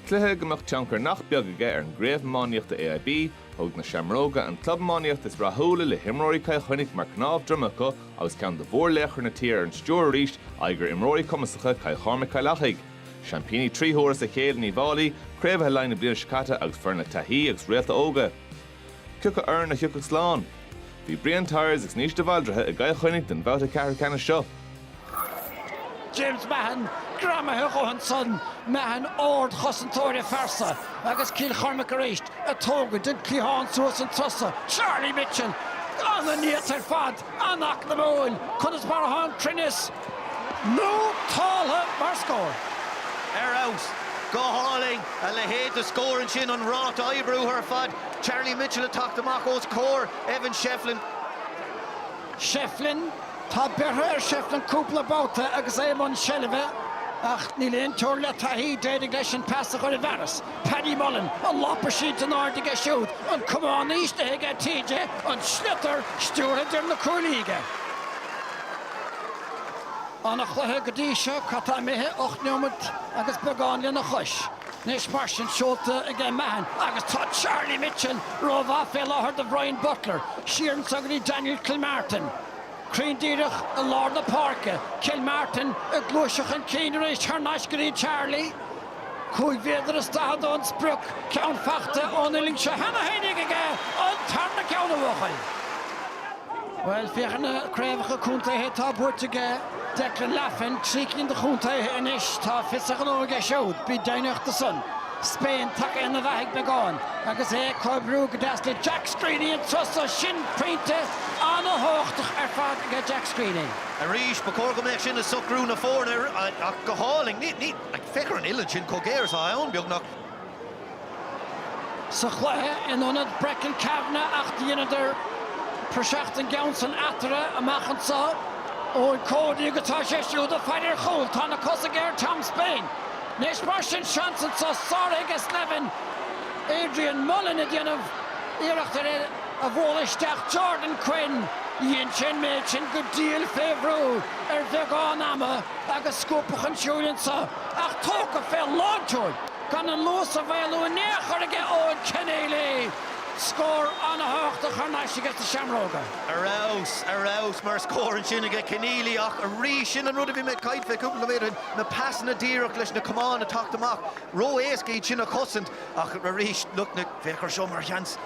Cluiche a mbeadh tionchar nach beag aige ar an gcraobh iománaíochta AIB, thug na Seamróga, an club iománaíochta is rathúla le himreoirí Chill Chainnigh mar cnámh droma acu agus ceann de mhórlaochra na tíre ar an stiúir arís, aghaidh ar imreoirí cumasacha Chill Chormaic-Cill Achaidh. Seaimpíní trí huaire as a chéile in Uíbh Fháilí, craobhaithe Laighean na bliana seo caite agus foireann le taithí agus réalta óga. Cé acu foireann a thiocfadh slán? Bhí Brian Tyers agus Naoise de Bhaldraithe i gCill Chainnigh don bhabhta ceathrú ceannais seo. James Mahon greamaithe a dhóthain sa mheáchan ar chosantóir a phearsan agus Cill Chormaic arís ag tógaint den chliathán suas an turas so. Charlie Mitchell! Ana-neart ar fad! an-eacnamúil, conas mar atá an cruinneas nótáltha mar scór. ar fheabhas. Go hálainn. A leithéid de scór ansin, an ráta oibriúcháin ar fad. Charlie Mitchell ag teacht amach os comhair Evan Shefflin. Shefflin. Tá bertha ar Shefflin cúpla babhta agus é i mbun seilbhe ach níl aon teora le taithí. D'éirigh leis an pas a chur i bhfearas. Paddy Mullen, an lámh á cur in airde aige siúd, an camán in ísle aige T.J. an sliotar stiúrtha fé dhéin na cuaillí aige. Ana-chluiche go dtí seo, cad tá imithe, ocht neomat agus beagán lena chois. Anois mar sin, seolta aige Mahon agus tá Charlie Mitchell ró-mhaith fé láthair do Bhrian Butler, siar anso go dtí Daniel Kilmartin. Cruinn díreach i lár na páirce, Kilmartin ag gluaiseacht chun cinn arís thar n-ais go dtí Charlie. Cúig mhéadar is daichead ón sprioc, ceann faighte ón uillinn seo cheana féin ag aige an tarna ceann a bhuachaill. Bhuel, féach ar na craobhacha contaetha atá buaite aige Declan Laffan, trí cinn de chontaetha anois, tá fios a ghnó aige siúd, bí deimhneach de san. Spain tagtha aniar beagán agus é ag comhoibriú go deas le Jack Screeney an turas san, pointe an-thabhachtach ar fad aige Jack Screeney. Arís, ba chóir go mbeadh sin ag socrú na foirne ach go hálainn. Agus féach ar an uillinn sin chomh géar is atá ann, beagnach. sa chluiche in ionad Brechin Kavanagh ach dheineadar praiseach den gceann san eatarthu amach anseo. Eoin Cody agus tá sé siúd ag faire ar chúl. Tá na cosa aige ó Tom Spain. Anois mar sin, seans anseo sáraithe aige Slevin. Adrian Mullen ag déanamh iarracht ar é a bhualadh isteach Jordan Quinn. Dhein sé an méid sin go diail fé bhrú ar bheagán ama. agus scuabtha chun siúil anseo, ach tógtha fé lántshiúl, gan an luas a mhaolú in aon chor ag Eoin Kenneally! Scór an-thábhachtach thar n-ais aige sna seamróga. Ar fheabhas, ar fheabhas, mar scór ansin aige Kenneally, ach arís, sin an rud a bhí mé ag caint fé cúpla nóiméad ó shin, na pasanna díreach leis na camáin a theacht amach, ró-éasca iad sin a chosaint, ach arís, lucht na, féach ar seo mar sheans.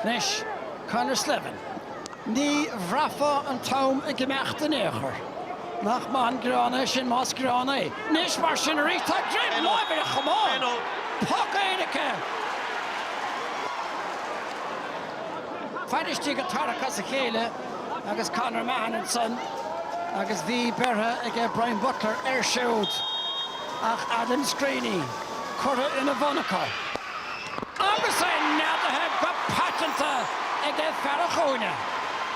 Anois, Conor Slevin, ní bhraithfeá an t-am ag imeacht in aon chor. Nach maith an greann é sin, más greann é. Anois, mar sin, arís, tá bainistigh ag tarrac as a chéile agus Conor Mahon ansan agus bhí beirthe aige Brian Butler air siúd ach Adam Screeney curtha ina bhun acu. agus é neadaithe go paiteanta ag an fear cúinne.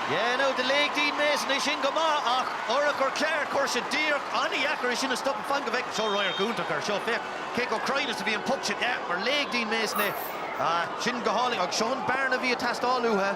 Yeah, ní dóigh liom gur locht ar Dean Mason é sin go maith, ach murach gur ciarr cúrsa díreach an-deacair é sin a stop, fan go bhfeicimid, seo radharc iontach air seo, féach cé chomh cruinn is a bhí an poc sin, yeah, mar léigh Dean Mason é, ah, sin go hálainn, agus seo an bearna a bhí ag teastáil uathu.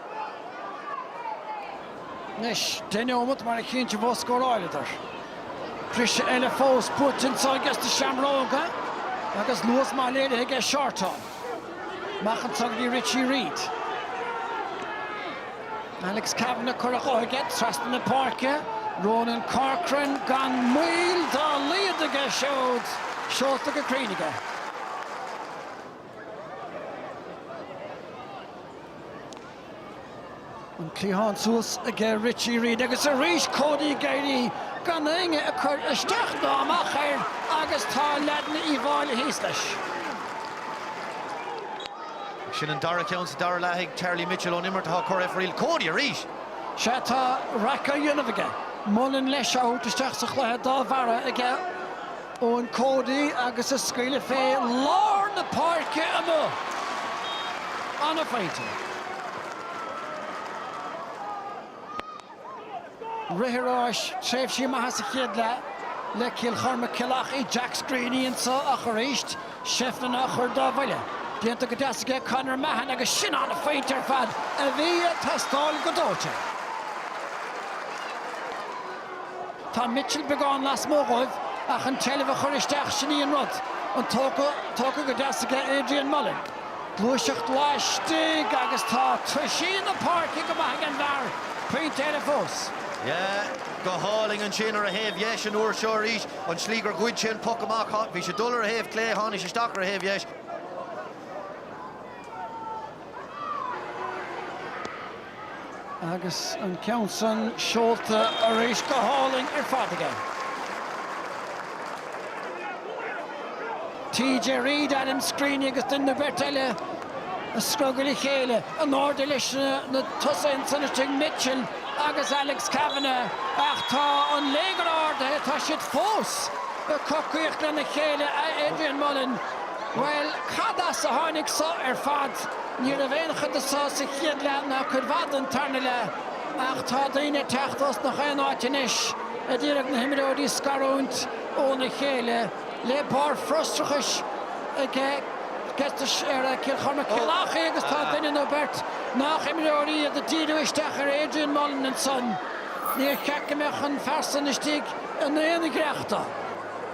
Anois, deich neomat, mar a chinnte go scóráileadar. Briseadh eile fós fachta anso acu, na Seamróga agus luas maith léirithe aige Shortall. Amach anso go dtí Richie Reid. Alex Kavanagh curtha dhó aige trasna na páirce. Ronan Corcoran gan mhoill dá laghad aige siúd seolta go cruinn aige. An cliathán suas aige Richie Reid agus arís Cody ag éirí gan éinne a chur isteach ná amach air agus tá leaideanna Uí Mháille thíos leis. Sin an dara ceann sa dara leath ag Charlie Mitchell ón imirt atá ag cur aiféala. Cody arís! Sea, tá raic á dhéanamh aige. Mullen leis á thabhairt isteach sa chluiche dá bharra aige. Eoin Cody agus a scaoileadh fé lár na páirce amuigh. An-phointe. Rith tar éis tréimhsí maithe sa chéad leath le Cill Chormaic-Cill Achaidh, Jack Screeney anso ach arís Shefflin á chur dá bhuille. Déanta go deas aige Conor Mahon agus sin an-phointe ar fad a bhí ag teastáil go dóite. Tá Mitchel beagán lasmuigh dóibh, ach an tseilbh a chur isteach, sin í an rud. An tógtha, tógtha go deas aige Adrian Mullen. Gluaiseacht laistigh agus tá toisí na páirce go maith ag an bhfear, pointe eile fós. Yeah, go hálainn ansin ar a thaobh dheis an uair seo arís. An tslí gur ghoid sé an poc amach, bhí sé ag dul ar a thaobh chlé, tháinig sé isteach ar a thaobh dheis. Agus an ceann san seolta arís go hálainn ar fad aige. TJ Reid, Adam Screeney agus duine nó beirt eile i scrogall a chéile. In airde leis na tosaithe ansan istigh, Mitchell agus Alex Kavanagh. Ach tá an léigear ardaithe, tá siad fós ag cocaireacht lena chéile, a Adrian Mullen. Bhuel, cad as a tháinig so ar fad? Ní raibh aon chuid de so sa chéad leath ná cuid mhaith den tarna leath, ach tá daoine ag teacht ós nach aon áit anois, ag iarraidh na himreoirí a scarúint óna chéile, le barr frustrachais aige ar Cill Chormaic-Cill Achaidh agus tá duine nó beirt nách imreoirí iad ag díriú isteach ar Adrian Mullen ansan. Níor cheart go mbeadh an fear san istigh in aon ghiorracht dó.